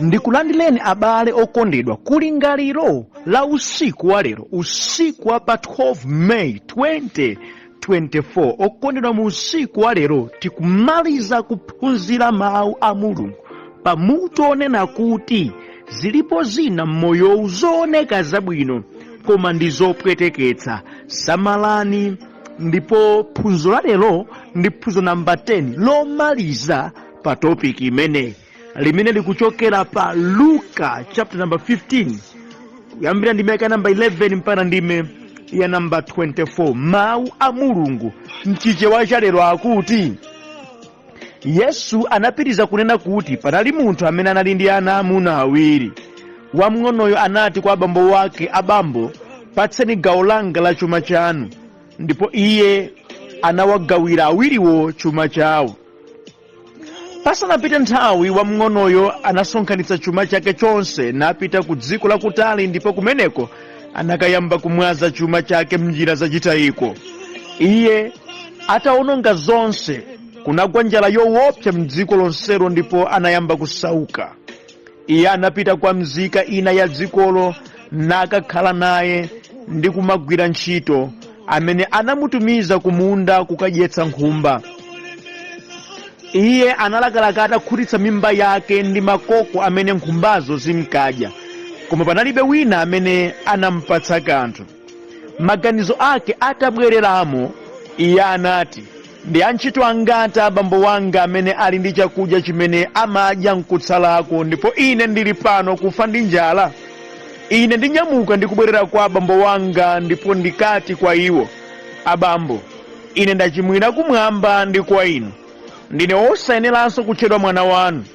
ndikulandileni abale okondedwa ku lingaliro la usiku wa lero usiku wa pa 12 may 2024 okondedwa mu usiku wa lero tikumaliza kuphunzira mawu a mulungu pa mutu onena kuti zilipo zina m'moyowu zooneka zabwino koma ndi zopweteketsa samalani ndipo phunziro la lero ndi phunziro namba 10 lomaliza pa topic imeneyi limene likuchokera pa luka chapter number 15 kuyambira ndime ya namba 11 mpaka ndime ya namba 24 mawu a mulungu mchichewa cha lero akuti yesu anapitiriza kunena kuti panali munthu amene anali ndi ana amuna awiri wamng'onoyo anati kwa abambo wake abambo patseni gawo langa la chuma chanu ndipo iye anawagawira awiriwo chuma chawo pasanapite nthawi wamng'onoyo anasonkhanitsa chuma chake chonse napita ku dziko lakutali ndipo kumeneko anakayamba kumwaza chuma chake m'njira zachitayiko iye atawononga zonse kunagwa njala yowopsa m'dziko lonselo ndipo anayamba kusauka iye anapita kwa mzika ina ya dzikolo nakakhala naye ndi kumagwira ntchito amene anamutumiza kumunda kukadyetsa nkhumba iye analakalaka atakhutitsa mimba yake ndi makoko amene nkhumbazo zinkadya koma panalibe wina amene anampatsa kanthu Maganizo ake atabwereramo, iye anati, Ndi antchito angati a bambo wanga amene ali ndi chakudya chimene amadya n'kutsalako, ndipo ine ndili pano kufa ndi njala? Ine ndinyamuka ndi kubwerera kwa abambo wanga ndipo ndikati kwa iwo, Abambo, ine ndachimwira kumwamba ndi kwa inu. Ndine wosayeneranso kutchedwa mwana wanu.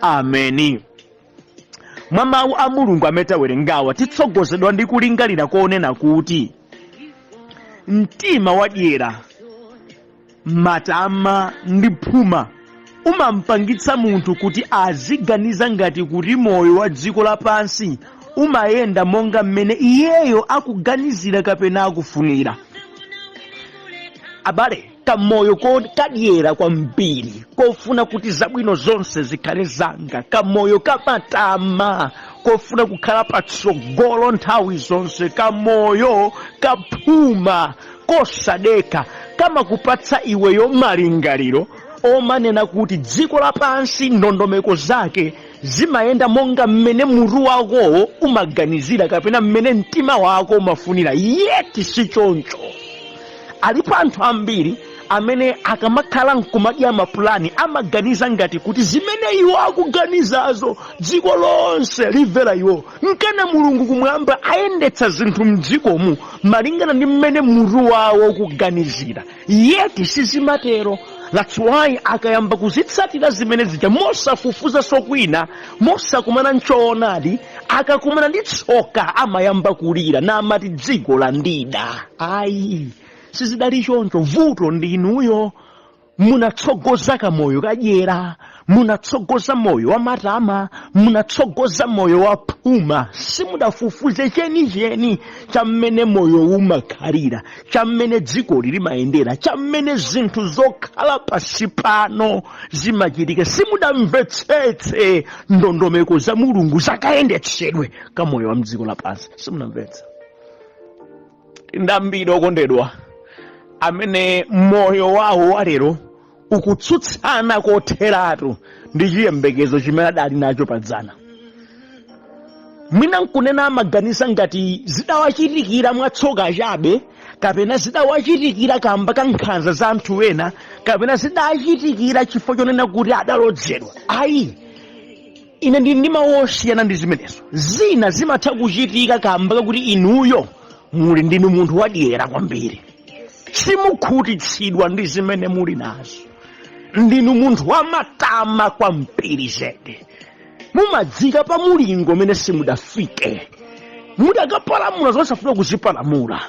ameni mwa mawu a mulungu amene tawerengawa titsogozedwa ndi kulingalira konena kuti mtima wadyera matama ndi phuma umampangitsa munthu kuti aziganiza ngati kuti moyo wa dziko lapansi umayenda monga mmene iyeyo akuganizira kapena akufunira abale kamoyo kadyera kwambiri kofuna kuti zabwino zonse zikhale zanga kamoyo kamatama kofuna kukhala patsogolo nthawi zonse kamoyo kaphuma kosadekha kamakupatsa iweyo malingaliro omanena kuti dziko lapansi ndondomeko zake zimayenda monga mmene mutu wakowo umaganizira kapena mmene mtima wako umafunira yeti si choncho alipo anthu ambiri amene akamakhala nkumadya mapulani amaganiza ngati kuti zimene iwo akuganizazo dziko lonse limvera iwo nkana mulungu kumwamba ayendetsa zinthu mdzikomu malingana ndi mmene mutu wawo ukuganizira yeti sizimatero that's why akayamba kuzitsatira zimene zija mosafufuza sokwina mosakumana nchoonadi akakumana ndi tsoka amayamba kulira naamati dziko landida ayi sizidali choncho vuto ndi inuyo munatsogoza kamoyo kadyera munatsogoza moyo wa matama munatsogoza moyo wa phuma simudafufuze chenicheni cha mmene moyo umakhalira cha mmene dzikoli limayendera cha mmene zinthu zokhala pansi pano zimachitika simudamvetsetse ndondomeko za mulungu zakayendetsedwe ka moyo wa mdziko lapansi simunamvetsa ndi ambiri okondedwa amene moyo wawo walero ukutsutsana kotheratu ndi chiyembekezo chimene adali nacho padzana mwina mkunena amaganiza ngati zidawachitikira mwatsoka chabe kapena zidawachitikira kamba ka nkhanza za anthu ena kapena zidachitikira chifukwa chonena kuti adalodzedwa ayi ine ndili ndi mawu osiyana ndi zimenezo zina zimatha kuchitika kamba kakuti inuyo muli ndinu munthu wadyera kwambiri simukhutitsidwa ndi zimene muli nazo ndinu munthu wamatama kwambiri zedi mumadzika pa mulingo umene simudafike mudakapalamula zosafuna kuzipalamula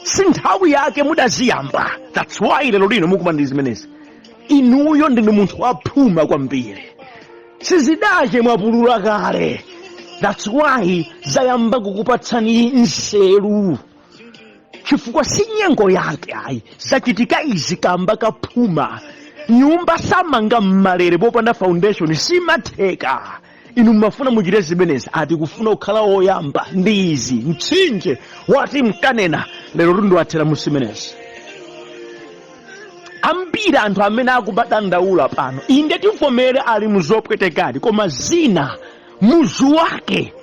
si nthawi yake mudaziyamba that's why lero lino mukumana ndi zimenezi inuyo ndinu munthu waphuma kwambiri sizidapse mwaphula kale that's why zayamba kukupatsani nzeru chifukwa si nyengo yake ayi zachitika izi kamba kaphuma nyumba samanga mmalere popanda foundation simatheka inu mmafuna muchite zimenezi ati kufuna kukhala woyamba ndi izi mtsinje wati mkanena lero ndiye athera musimenezi ambiri anthu amene akubadandaula pano inde tivomere ali muzopwetekadi koma zina muzu wake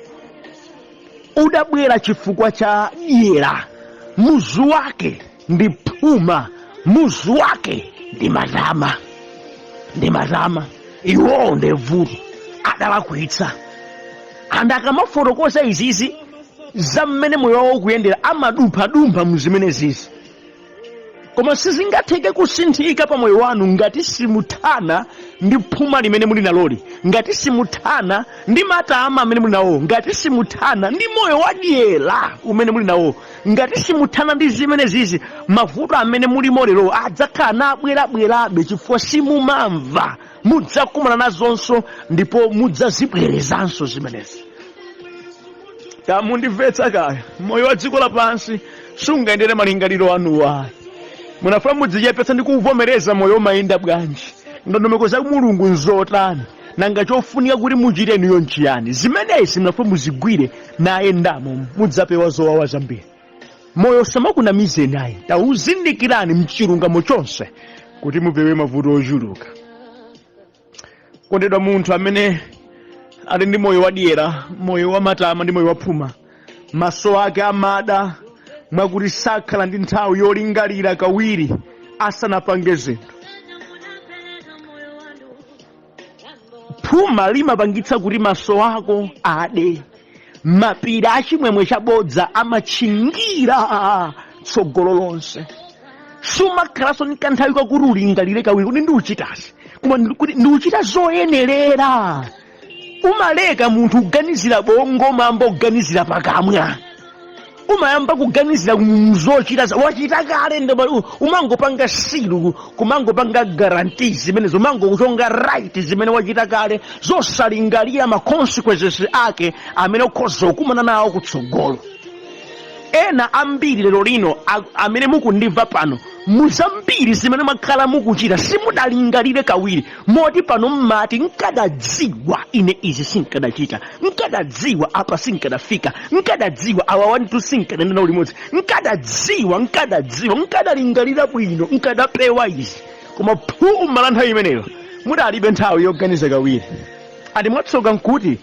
udabwera chifukwa cha dyera muzu wake ndi phuma muzu wake ndi matama ndi matama iwowo ndi vuto adalakwitsa anthu akamafotokoza izizi za mmene moyo wawo ukuyendera amadumphadumpha mu zimene zizi koma sizingatheke kusinthika pa moyo wanu ngati simuthana ndi phuma limene muli naloli ngati simuthana ndi matama amene muli nawo ngati simuthana ndi moyo wadyera umene muli nawo ngati simuthana ndi zimenezizi mavuto amene mulimo lero adzakhala nabwerabwerabe chifukwa simumamva mudzakumana nazonso ndipo mudzazibwerezanso zimenezi tamundimvetsa kaya moyo wa dziko lapansi siungayendere malingaliro anuwo ayi munafuna mudzichepetsa ndi kuvomereza moyo umayenda bwanji ndondomeko za mulungu nzotani nanga chofunika kuti muchite inuyo nchiyani zimenezi munafuna muzigwire nayendamo mudzapewa zowawa zambiri moyo usamakunamizeni ayi tawuzindikirani mchilungamo chonse kuti mupewe mavuto ochuluka okondedwa munthu amene ali ndi moyo wadyera moyo wamatama ndi moyo waphuma maso ake amada mwakuti sakhala ndi nthawi yolingalira kawiri asanapange zinthu phuma limapangitsa kuti maso ako ade mapiri a chimwemwe chabodza amatchingira tsogolo lonse sumakhalanso ndi kanthawi kakuti ulingalire kawiri kuti ndikuchitazi koma ndi- kuti ndikuchita zoyenerera umaleka munthu kuganizira bongo umayamba kuganizira pakamwa umayamba kuganizira zochita za- wachita kale nde umangopanga seal kumangopanga guarantee zimenezo umangochonga right zimene wachita kale zosalingalira ma consequences ake amene ukhoza kukumana nawo kutsogolo ena ambiri lero lino a- amene mukundimva pano muzambiri zimene mwakhala mukuchita simudalingalire kawiri moti pano mmati nkadadziwa ine izi sinkadachita nkadadziwa apa sinkadafika nkadadziwa awa anthu sinkadayenda nawo limodzi nkadadziwa nkadadziwa nkadalingalira bwino nkadapewa izi koma phuma la nthawi imeneyo mudalibe nthawi yoganiza kawiri and mwatsoka nkuti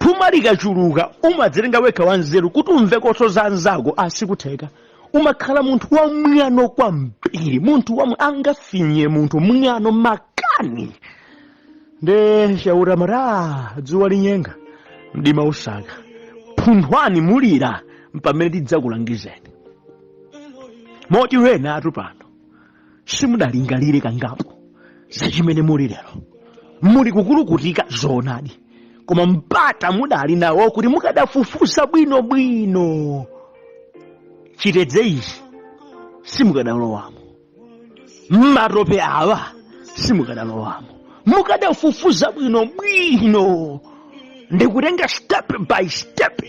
phuma likachuluka umadzitenga wekha wanzeru kuti umveko so za anzako asikutheka umakhala munthu wamwano kwambiri munthu wamwe angafinye munthu mwano makani nde Chauta amati dzuwa linyenga mdima usaka phunthwani mulira mpamene tidzakulangizeni moti enanutu pano simudalingalire kangapo za chimene muli lero muli kukulukutika zoonadi koma mpata mudali nawo kuti mukadafufuza bwino bwino chitedze ichi simukadalowamo mmatope awa simukadalowamo mukadafufuza bwino bwino ndikutenga step by step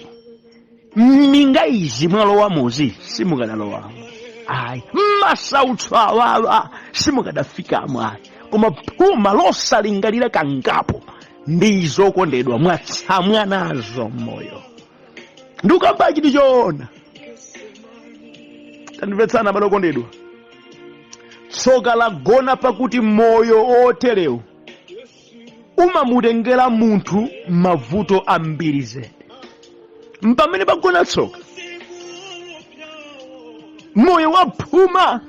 mminga izi mwalowamozi simukadalowamo ayi mmasautso awawa simukadafikamo ayi koma phuma losalingalira kangapo ndizo okondedwa mwatsamwa nazo mmoyo ndikukambachi ndi choona tandimvetsani abale okondedwa tsoka lagona pakuti moyo oterewu umamutengera munthu mavuto ambiri zedi mpamene pagona tsoka moyo wa phuma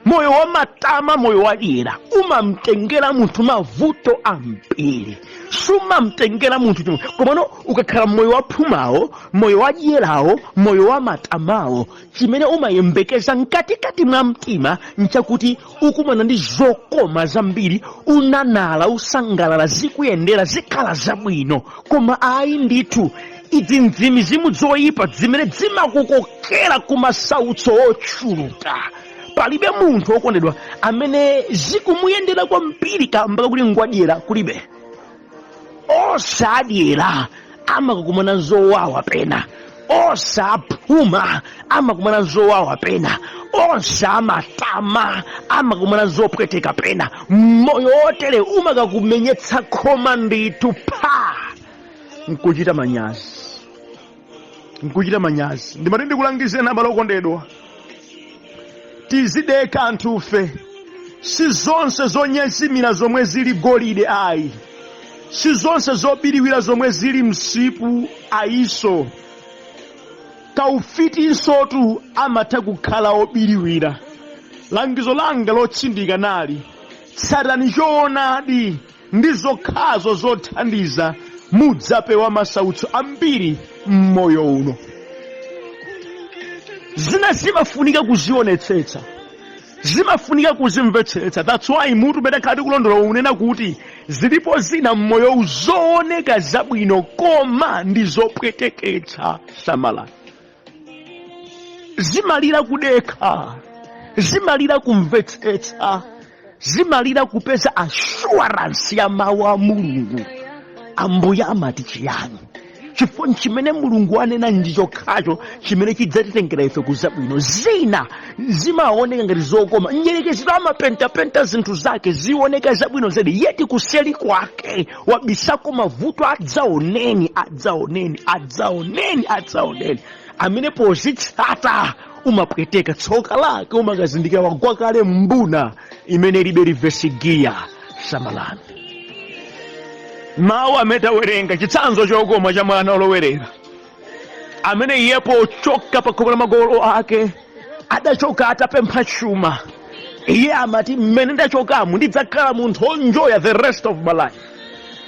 moyo wa matama moyo wa dyera umamtengera munthu mavuto ambiri sumamtengera munthu chimwemwe komano ukakhala moyo wa phumawo moyo wa dyerawo moyo wa matamawo chimene umayembekeza mkatikati mwa mtima nchakuti ukumana ndi zokoma zambiri unanala usangalala zikuyendera zikhala zabwino koma ayi ndithu izi nzimizimu zoyipa zimene zimakukokera ku masautso ochuluka palibe munthu okondedwa amene zikumuyendera kwambiri kamba kakuti ngwadyera kulibe onse adyera amakakumana zowawa pena onse aphuma amakumana zowawa pena onse amatama amakumana zopweteka pena moyo wotere umakakumenyetsa khoma ndithu pha nkuchita manyazi nkuchita manyazi ndimati ndikulangizeni abale okondedwa tizidekha anthufe si zonse zonyezimira zomwe zili golide ayi si zonse zobiriwira zomwe zili msipu ayiso kaufitinsotu amatha kukhala obiriwira langizo langa lotsindika nali tsatani choonadi ndi zokhazo zothandiza mudzapewa masautso ambiri m'moyo uno zina zimafunika kuzionetsetsa zimafunika kuzimvetsetsa that's why mutu umene takhala tikulondola unena kuti zilipo zina m'moyowu zooneka zabwino koma ndi zopweteketsa samalani zimalira kudekha zimalira kumvetsetsa zimalira kupeza assurance ya mawu a mulungu ambuye amati chiyani chifukwa chimene mulungu anena ndi chokhacho chimene chidzatitengera ife kuzabwino zina zimaoneka ngati zokoma mdyerekeziyo amapentapenta zinthu zake zioneka zabwino zedi yet kuseli kwake wabisako mavuto adzaoneni adzaoneni adzaoneni adzaoneni amene pozitsata umapweteka tsoka lake umakazindikira wagwa kale m'mbuna imene ilibe reverse gear samalani mawu amene tawerenga chitsanzo chokoma cha mwana olowerera amene iye pochoka pa khomo la makolo ake adachoka atapempha chuma iye amati mmene ndachokamo ndidzakhala munthu onjoya the rest of my life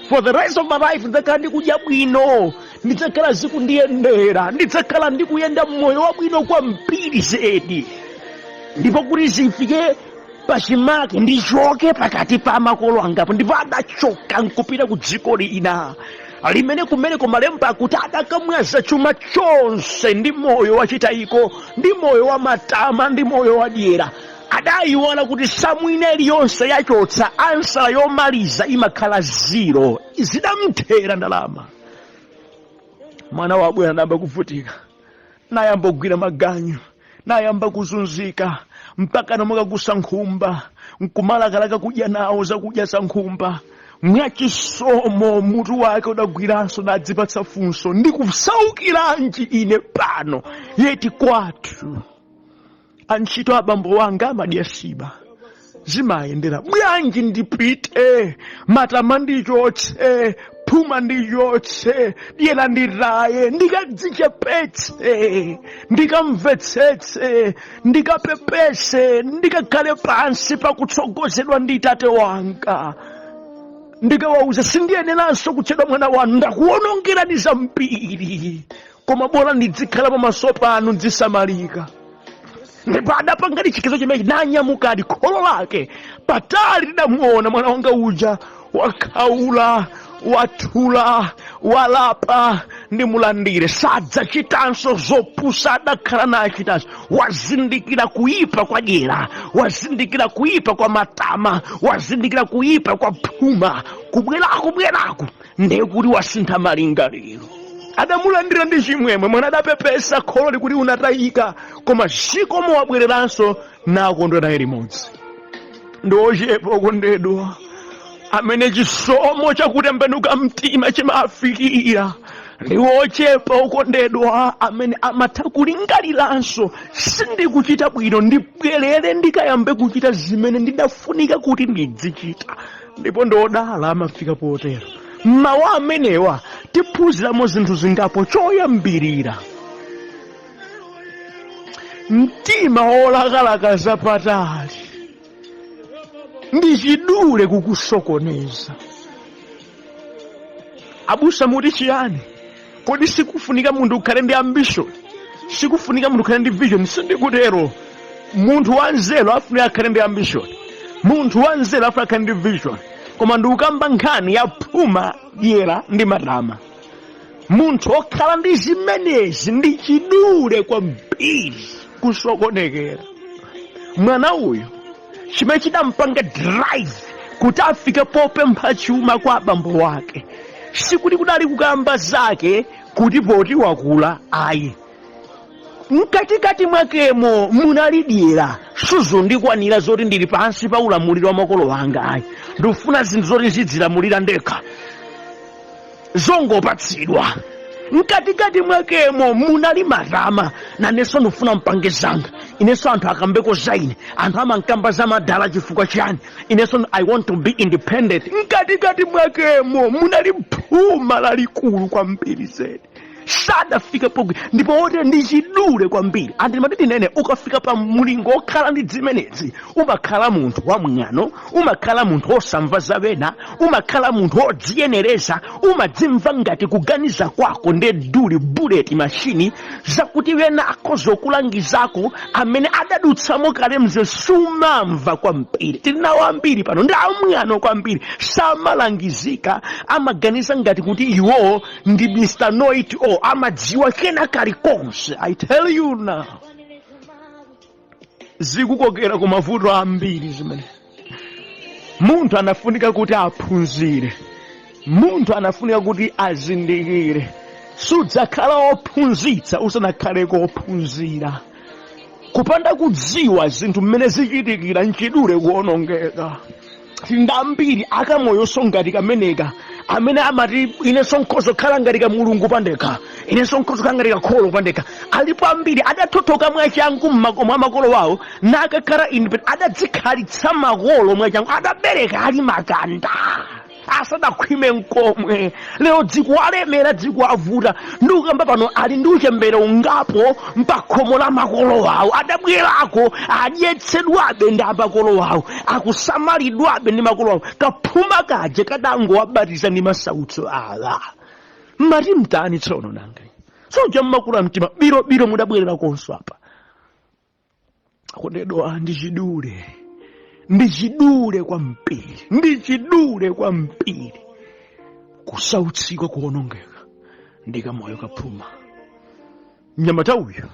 for the rest of my life ndidzakhala ndikudya bwino ndidzakhala zikundiyendera ndidzakhala ndikuyenda mmoyo wabwino kwambiri zedi ndipo kuti zifike pachimake ndichoke pakati pa makolo angapa ndipo adachoka nkupita ku dziko lina limene kumeneko malemba akuti adakamwaza chuma chonse ndi moyo wachitayiko ndi moyo wa matama ndi moyo wa dyera adayiwala kuti samu ina iliyonse yochotsa ansala yomaliza imakhala ziro zidamthera ndalama mwana wabwera nayamba kuvutika nayamba kugwira maganyu nayamba kuzunzika mpaka namuka kuweta nkhumba nkumalakalaka kudya nawo zakudya za nkhumba mwachisomo mutu wake udagwiranso nadzipatsa funso ndikusaukiranji ine pano yeti kwathu antchito abambo wanga amadya siba zimayendera bwanji ndipite matama ndichotse phuma ndichotse dyera nditaye ndikadzichepetse ndikamvetsetse ndikapepese ndikakhale pansi pakutsogozedwa ndi tate wanga ndikawauza sindiyeneranso kutchedwa mwana wanu ndakuwonongerani zambiri koma bola ndidzikhala pamaso panu ndisamalika ndipo adapanga chiganizo chimenechi nanyamukadi kholo lake patali lidamuona mwana wanga uja wakhaula wathula walapa ndimulandire sadzachitanso zopusa adakhala nachitanso wazindikira kuyipa kwa dyera wazindikira kuyipa kwa matama wazindikira kuyipa kwa phuma kubwerako bwerako ndiye kuti wasintha malingaliro adamulandira ndi chimwemwe mwana adapepesa kholo likuti unatayika koma zikomo wabwereranso nakondwa naye limodzi ndi ochepa okondedwa amene chisomo chakutembenuka mtima chimafikira ndi ochepa okondedwa amene amatha kulingaliranso sindikuchita bwino ndibwerere ndikayambe kuchita zimene ndidafunika kuti ndidzichita ndipo ndi odala amafika potero mmawu amenewa tiphunziramo zinthu zingapo choyambirira mtima wolakalaka zapatali ndi chidule kukusokoneza abusa muti chiyani kodi sikufunika munthu ukhale ndi ambition sikufunika munthu ukhale ndi vision sindikutero munthu wanzeru afunika akhale ndi ambition munthu wanzeru afunika akhale ndi vision koma ndikukamba nkhani ya phuma dyera ndi matama munthu okhala ndi zimenezi ndi chidule kwambiri kusokonekera mwana uyu chimene chinampanga drive kuti afike popempha chuma kwa abambo wake sikuti kudali kukamba zake kuti poti wakula ayi mkatikati mwakemo munali dyera sizondikwanira zoti ndili pansi pa ulamuliro wa makolo anga ayi ndikufuna zinthu zoti ndzidzilamulira ndekha zongopatsidwa mkatikati mwakemo munali matama nanenso ndifuna mpange zanga inenso anthu akambeko za ine anthu amankamba za madala chifukwa chani inenso i want to be independent mkatikati mwakemo munali phuma lalikulu kwambiri zedi sadafike pogwi ndipo wote ndi chidule kwambiri anthu timati tinene ukafika pa mlingo wokhala ndi zimenezi umakhala munthu wamwano umakhala munthu wosamva za wena umakhala munthu wodziyenereza umadzimva ngati kuganiza kwako ndi duli buleti mashini zakuti wena akhoza kukulangizako amene adadutsamo kale mze sumamva kwambiri tili nawo ambiri pano ndi amwano kwambiri samalangizika amaganiza ngati kuti iwowo ndi mr know it all amadziwa kena kalikonse i tell you now zikukokera ku mavuto ambiri zimene munthu anafunika kuti aphunzire munthu anafunika kuti azindikire sudzakhala wophunzitsa usanakhale kophunzira kupanda kudziwa zinthu mmene zichitikira nchidule kuonongeka tili ndi ambiri akamoyonso ngati kameneka amene amati inenso nkhoza kukhala ngati ka mulungu pandekha inenso nkhoza kukhala ngati kakholo pandekha alipo ambiri adathothoka mwachangu mmakomo a makolo wawo nakakhala independent adadzikhalitsa makolo mwachangu adabereka ali makanda asadakhwime mkomwe lero zikuwalemera zikuwavuta ndikukamba pano ali ndi uchembere ungapo mpakhomo la makolo awo adabwerako adyetsedwabe ndi amakolo awo akusamalidwabe ndi makolo awo kaphuma kaje kadangowabatiza ndi masautso awa mmati mtani tsono nanga soja mmakula mtima birobiro mudabwererakonso apa kukodwa ndi chidule ndi chidule kwambiri ndi chidule kwambiri kusautsika kuonongeka ndi kamoyo kaphuma mnyamata uyu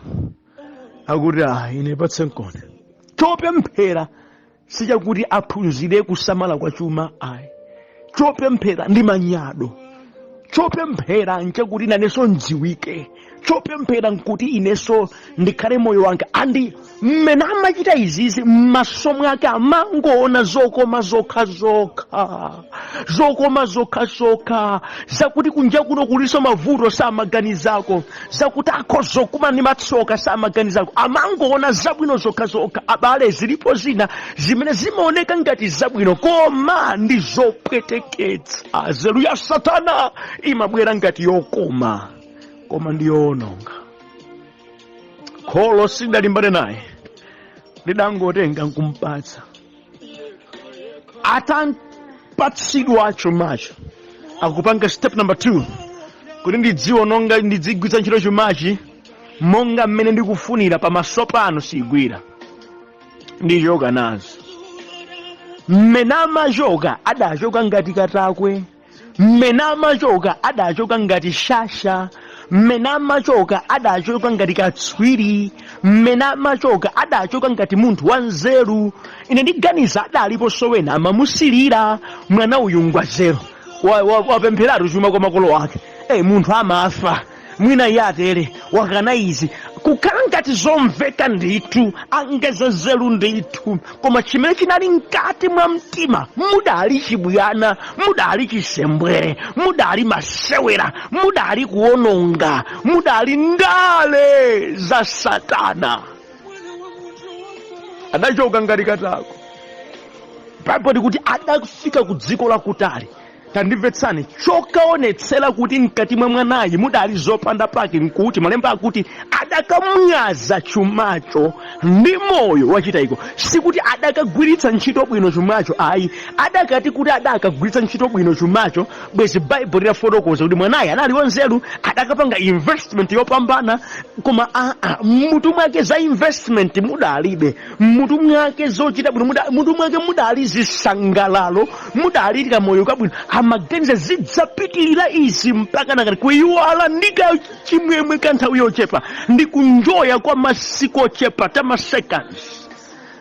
akuti ah ine patse mkono chopemphera sichakuti aphunzire kusamala kwa chuma ayi chopemphera ndi manyado chopemphera nchakuti nanenso ndziwike chopemphera nkuti inenso ndikhale moyo wanga andi mmene amachita izizi m'maso mwake amangoona zokoma zokha zokha zokoma zokhazokha zakuti kunja kuno kulinso mavuto samaganizako zakuti akhoza kukumana ndi matsoka samaganizako amangoona zabwino zokhazokha abale zilipo zina zimene zimaoneka ngati zabwino koma ndi zopweteketsa nzeru ya satana imabwera ngati yokoma koma ndi yoononga kholo silidalimbane naye lidangotenga nkumpatsa atampatsidwa chumacho akupanga step number 2 kuti ndidziwononga ndidzigwiritsa ntchito chumachi monga mmene ndikufunira pamaso pano sigwira ndichoka nazo mmene amachoka adachoka ngati katakwe mmene amachoka adachoka ngati shasha mmene amachoka adachoka ngati katswiri mmene amachoka adachoka ngati munthu wanzeru ine ndiganiza adaliponso wena amamusilira mwana uyu ngwanzeru wapempheratu chuma kwa makolo ake e munthu amafa mwina iye atere wakana izi kukhala ngati zomveka ndithu angeza nzeru ndithu koma chimene chinali mkati mwa mtima mudali chibwana mudali chisembwere mudali masewera mudali kuononga mudali ndale za satana adachoka ngati katakwe baibulo likuti adafika ku dziko lakutali tandimvetsani chokaonetsera kuti mkati mwa mwanayu mudali zopanda pake nkuti malemba akuti adakamwaza chumacho ndi moyo wachitayiko sikuti adakagwiritsa ntchito bwino chumacho ayi adakati kuti adakagwiritsa ntchito bwino chumacho bwezi baibulo lidafotokoza kuti mwanayu anali wanzeru adakapanga investment yopambana koma aa mmutu mwake za investment mudalibe mmutu mwake zochita bwino muda- mmutu mwake mudali zisangalalo mudali kamoyo kabwino amaganiza zidzapitirira izi mpaka nakale kuyiwala ndi kachimwemwe ka nthawi yochepa ndi kunjoya kwa masiku ochepa tamaseconds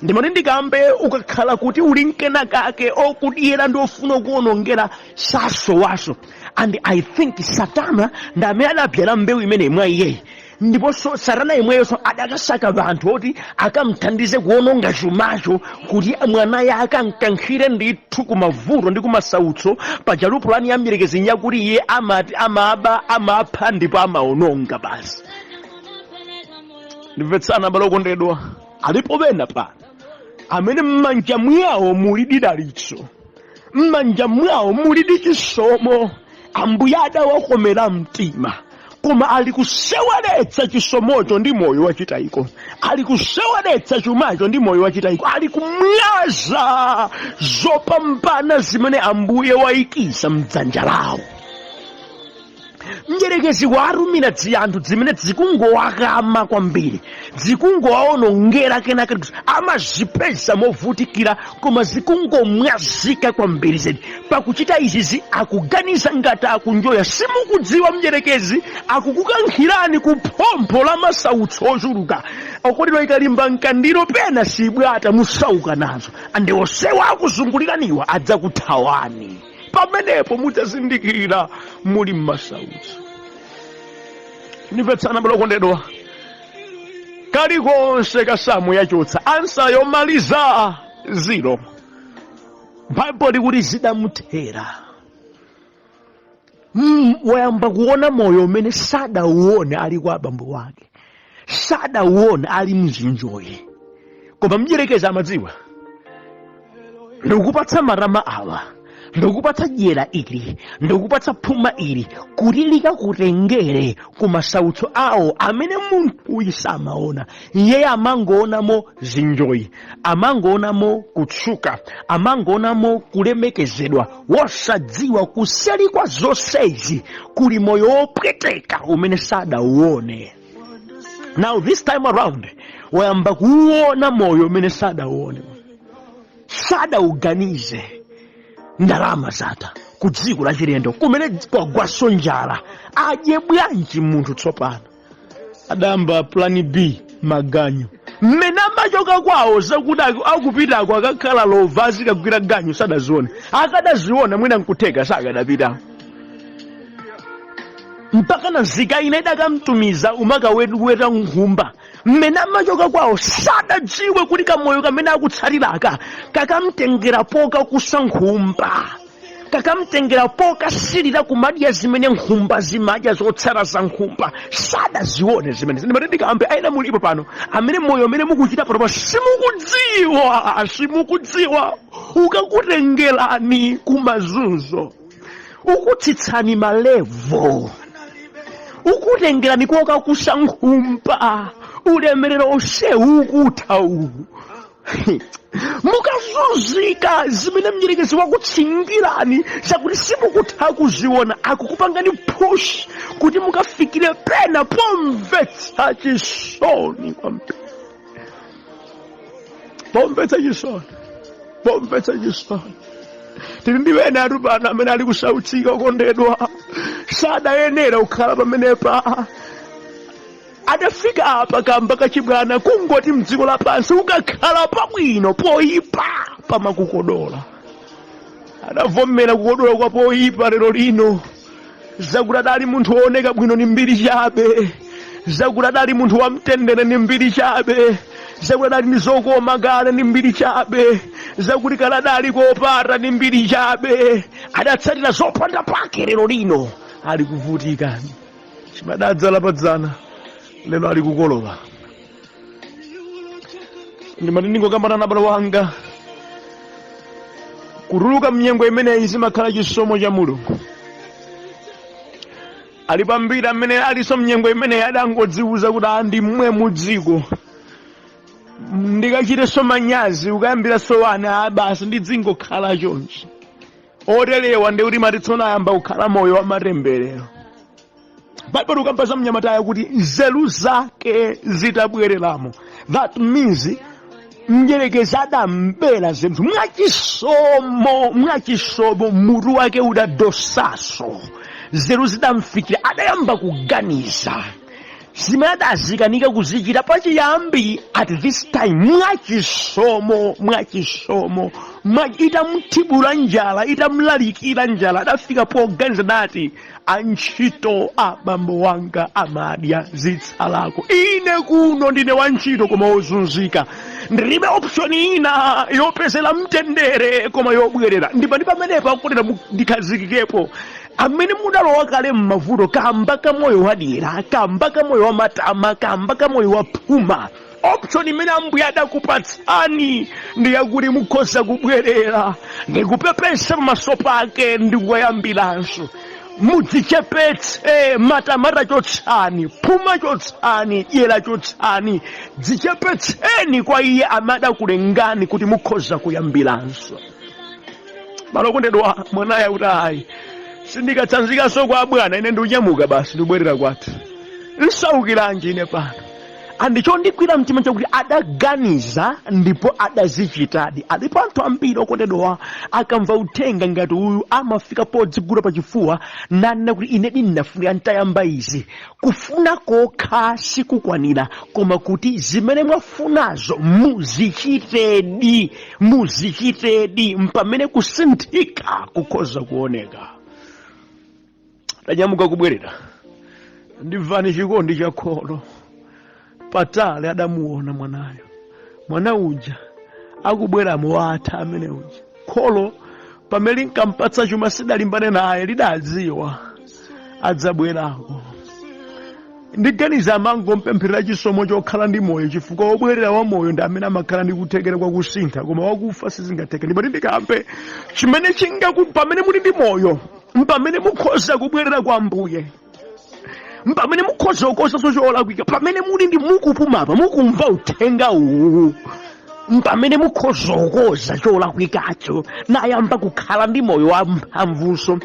ndimati ndikambe ukakhala kuti uli nkenakake okudyera ndi ofuna kukuonongera sasowaso and i think satana ndi amene adabyala mbewu imeneyi mwa iyeyu ndiponso satana yemweyonso adakasaka vanthu oti akamthandize kuononga chumacho kuti mwanayo akamkankhire ndithu kumavuto ndi kumasautso paja pulani ya mdierekezi nyakuti iye amati amaba amapha ndipo amaononga basi ndimvetsana abale okondedwa alipo ena pano amene m'manja mwawo muli didalitso m'manja mwawo mulidi chisomo ambuye adawakomera mtima koma ali kuseweretsa chisomocho ndi moyo wachitayiko ali kuseweretsa chumacho ndi moyo wachitayiko ali kumwaza zopambana zimene ambuye waikiza mdzanja lawo mdyerekezi watumiza dzianthu dzimene dzikungowakama kwambiri dzikungowaonongera kenaka kuti amazipeza movutikira koma zikungomwazika kwambiri zedi pakuchita izizi akuganiza ngati akunjoya simukudziwa mdyerekezi akukukankhirani ku phompho la masautso ochuluka okondedwa ikalimba mkandiro pena sibwata musauka nazo ande onsewa akuzunguliraniwa adzakuthawani pamenepo mudzazindikira muli m'masautso ndimvetsana abale okondedwa kalikonse kasamu yachotsa ansa yomaliza ziro baibulo likuti zidamuthera Mm, wayamba kuona moyo umene sadauone ali kwa abambo wake sadauona ali mzinjoyi koma mdyerekezi amadziwa ndikupatsa matama awa ndikupatsa dyera ili ndikupatsa phuma ili kuti likakutengere ku masautso awo amene munthu uyu samaona iyeyo amangoonamo zinjoyi amangoonamo kutchuka amangoonamo kulemekezedwa wosadziwa kuseli kwa zonsezi kuli moyo wopweteka umene sadauone now this time around wayamba kuuona moyo umene sadauone sadauganize ndalama zatha ku dziko lachilendo kumene kwagwaso njala adye bwanji munthu tsopano adayamba plan b maganyu mmene amachoka kwawo zakuti aku- akupitako akakhala lova azikagwira ganyu sadazione akadaziona mwina nkutheka sakadapita mpaka na nzika ina idakamtumiza kumakaweta nkhumba mmene amachoka kwawo sadadziwe kuti kamoyo kamene akutsatiraka kakamtengera pokakusa nkhumba kakamtengera pokasirira kumadya zimene nkhumba zimadya zotsara za nkhumba sadazione zimene ndimati ndikambe aina mulipo pano amene moyo umene mukuchita panopa simukudziwa simukudziwa ukakutengerani kumazunzo ukutsitsani malevo ukutengerani kokakusa nkhumba ulemerero onse ukutha uwu mukazunzika zimene mdyerekezi wakutsingirani zakuti simukutha kuziona akukupangani push kuti mukafikire pena pomvetsa chisoni kwambiri pomvetsa chisoni pomvetsa chisoni tili ndi ena athu pano amene ali kusautsika okondedwa sadayenera kukhala pamenepa adafika apa kamba kachibwana kungoti mdziko lapansi ukakhala pabwino poyipa pamakukodola adavomera kukodola kwa poyipa lero lino zakuti adali munthu wooneka bwino ndi mbiri chabe zakuti adali munthu wamtendere ndi mbiri chabe zakuti adali ndi zokoma kale ndi mbiri chabe zakuti kale adali kopata ndi mbiri chabe adatsatira zopanda pake lero lino ali kuvutika chimene adadzala padzana lero ali kukolola ndimati ndingokambana nawe mbale wanga kutuluka mnyengo imeneyi zimakhala chisomo cha mulungu alipo ambiri amene alinso mnyengo imeneyi adangodziwuza kuti a ndi momwemo dziko ndikachitenso manyazi kukayambiranso ana a basi ndidzingokhala chonchi oterewa ndiye kuti amati tsono ayamba kukhala moyo wa matemberero baibulo likamba za mnyamatayo kuti nzeru zake zitabwereramo that means mdyerekezi adambera nzeru mwachisomo mwachisomo mutu wake udadosaso nzeru zidamfikira adayamba kuganiza zimene adakanika kuzichita pachiyambi at this time mwachisomo mwachisomo mwa- itamthibula njala itamlalikira njala adafika poganiza adati antchito a bambo wanga amadya zitsalako ine kuno ndine wantchito koma wozunzika ndilibe option ina yopezera mtendere koma yobwerera ndipo ndi pamenepa kutereko ndikhazikikepo amene mudalowa kale m'mavuto kamba ka moyo wadyera kamba ka moyo wamatama kamba ka moyo waphuma option imene ambuye adakupatsani ndi yakuti mukhoza kubwerera ndikupepesa pamaso pake ndikuyambiranso mudzichepetse matama chotsani phuma chotsani dyera chotsani dzichepetseni kwa iye amene adakulengani kuti mukhoza kuyambiranso malo okondedwa mwanayo akuti ayi sindikatsanzikanso kwa abwana ine ndikunyamuka basi ndikubwerera kwathu nsaukilanji ine pano and chondigwira mtima chakuti adaganiza ndipo adazichitadi alipo anthu ambiri okondedwa akamva uthenga ngati uyu amafika podzigula pachifuwa nanena kuti ine ndinafuna ntayamba izi kufuna kokha sikukwanira koma kuti zimene mwafunazo muzichitedi muzichitedi mpamene kusinthika kukhoza kuoneka adanyamuka kubwerera ndiye imvani chikondi cha kholo patali adamuona mwanayo mwana uja akubwera mo watha amene uja kholo pamene linkampatsa chuma sidalimbane naye lidadziwa adzabwerako ndiganiza amangompempherera chisomo chokhala ndi moyo chifukwa wobwerera wa moyo ndi amene amakhala ndi kuthekera kwa kusintha koma wakufa sizingatheke ndipo nditi ndikambe chimene chingaku pamene muli ndi moyo mpamene mukhoza kubwerera kwa mbuye mpamene mukhoza kukonzanso cholakwika pamene muli ndi mukupumapa mukumva uthenga uwu mpamene mukhoza kukoza cholakwikacho nayamba kukhala ndi moyo wa mphamvunso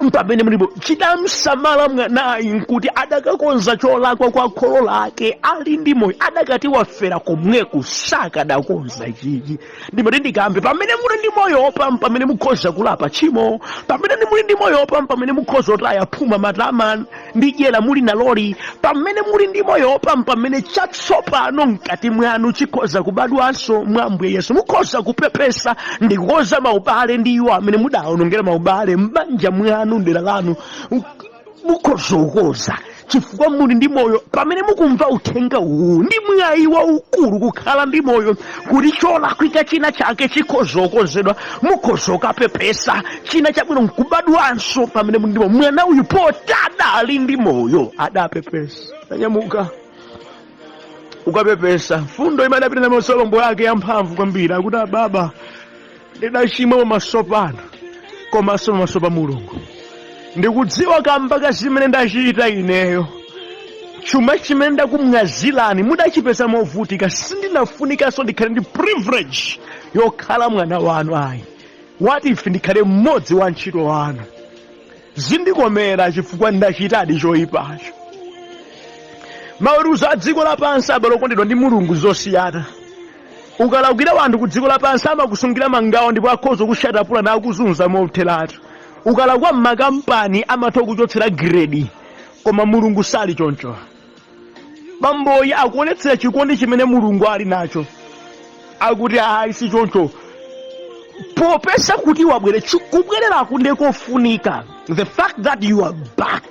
mpamene mulipo chidamsamalira mwanayi nkuti adakakonza cholakwa kwa kholo lake ali ndi moyo adakati wafera komweku sakadakonza chichi ndimati ndikambe pamene muli ndi moyo opam pamene mukhoza kulapa tchimo pamene muli ndi moyo opam pamene mukhoza kutaya phuma matama ndi dyera muli naloli pamene muli ndi moyopa mpamene chatsopano mkati mwanu chikhoza kubadwanso mwa ambuye yesu mukhoza kupepesa ndi kukonza maubale ndi iwo amene mudaonongera maubale m'banja mwanu mdera lanu mukhoza kukonza chifukwa muli ndi moyo pamene mukumva uthenga uwu ndi mwayi waukulu kukhala ndi moyo kuti cholakwika china chake chikhoza kukonzedwa mukhoza kukapepesa china chabwino nkubadwanso pamene muli ndi moyo mwana uyu poti adali ndi moyo adapepesa adanyamuka kukapepesa mfundo imene adapita na masolombo yake yamphamvu kwambiri akuti ababa ndidachimwa pamaso panu komanso pamaso pa mulungu ndikudziwa kamba ka zimene ndachita ineyo chuma chimene ndakumwazirani mudachipeza movutika sindinafunikanso ndikhale ndi privilege yokhala mwana wanu ayi what if ndikhale mmodzi wa ntchito wanu Zindikomera chifukwa ndachitadi choipacho. Maweruzo a dziko lapansi abale okondedwa ndi Mulungu zosiyana. Ukalakwira wanthu ku dziko lapansi amakusungira mangawa ndipo akhoza kusiya tapula nakuzunza motheratu. Ukalakwa m'makampani amatha kukuchotsera grade, koma Mulungu sali choncho. bamboyi akuonetsera chikondi chimene mulungu ali nacho akuti ayi si choncho popeza kuti wabwera kubwererakunde kofunika the fact that you are back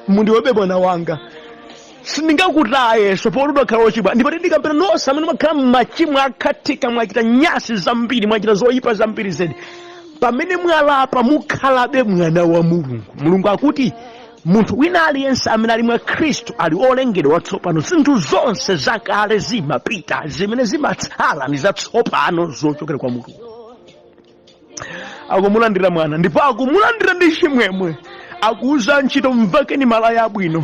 ndiwebe mwana wanga sindingakutayenso poti udakhala wochimwa ndipo ndikambira nonse amene makhala mmachimo zakhathika mwachita nyasi zambiri mwachita zoyipa zambiri zedi pamene mwalapa mukhalabe mwana wa mulungu mulungu akuti munthu wina aliyense amene ali mwa khristu ali olengedwa watsopano zinthu zonse zakale zimapita zimene zimatsala ndi zatsopano zochokera kwa mulungu akumulandira mwana ndipo akumulandira ndi chimwemwe akuuza antchito mvekeni malaya abwino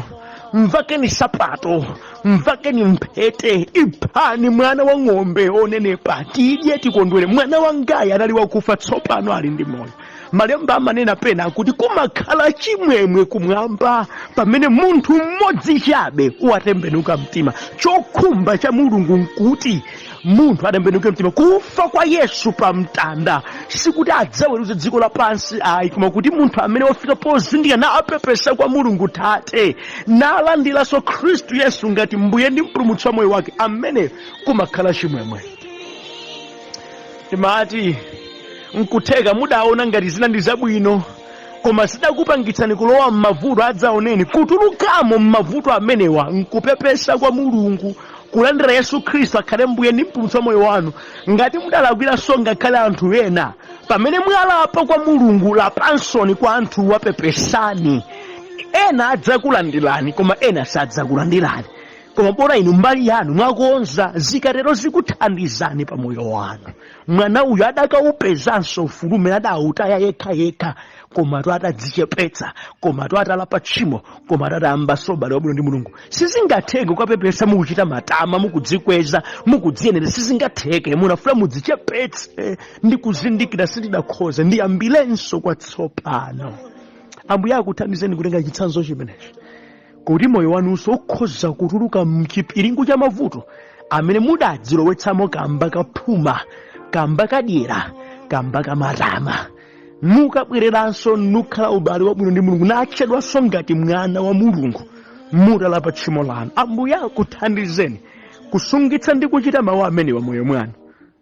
mvekeni nsapato mvekeni mphete iphani mwana wa ng'ombe onenepa tidye tikondwere mwana wangayu anali wakufa tsopano ali ndi moyo malemba amanena pena kuti kumakhala chimwemwe kumwamba pamene munthu mmodzi chabe watembenuka mtima chokhumba cha mulungu nkuti munthu atembenuke mtima kufa kwa yesu pa mtanda sikuti adzaweruze dziko lapansi ayi koma kuti munthu amene wafika pozindikira napepesa kwa mulungu tate nalandiranso khristu yesu ngati mbuye ndi mpulumutsi wa moyo wake amene kumakhala chimwemwe ndimati nkutheka mudaona ngati zina ndi zabwino koma zidakupangitsani kulowa m'mavuto adzaoneni kutulukamo m'mavuto amenewa nkupepesa kwa mulungu kulandira yesu khristu akhale mbuye ndi mpulumutsi wa moyo wanu ngati mudalakwiranso ngakhale anthu ena pamene mwalapa kwa mulungu lapaninso kwa anthu apepeseni ena adzakulandirani koma ena sadzakulandirani koma bola inu mbali yanu mwakonza zikatero zikuthandizani pa moyo wanu mwana uyu adakaupezanso ufulu umene adautaya yekha yekha komatu atadzichepetsa komatu atalapa tchimo komatu atayambanso ubale wabwino ndi mulungu sizingatheke kukapepesa mukuchita matama mukudzikweza mukudziyenereza sizingatheke muyenera mudzichepetse ndi kuzindikira sindidakhoza ndiyambirenso kwatsopano ambuye akuthandizeni kutenga chitsanzo chimenechi kuti moyo wanunso ukhoza kutuluka mchipiringu cha mavuto amene mudadzilowetsamo kamba ka phuma kamba ka dyera kamba ka matama nukabwereranso nukhala ubale wabwino ndi mulungu natchedwanso ngati mwana wa mulungu mutalapa tchimo lanu ambuye akuthandizeni kusungitsa ndi kuchita mawu amenewa m'moyo mwanu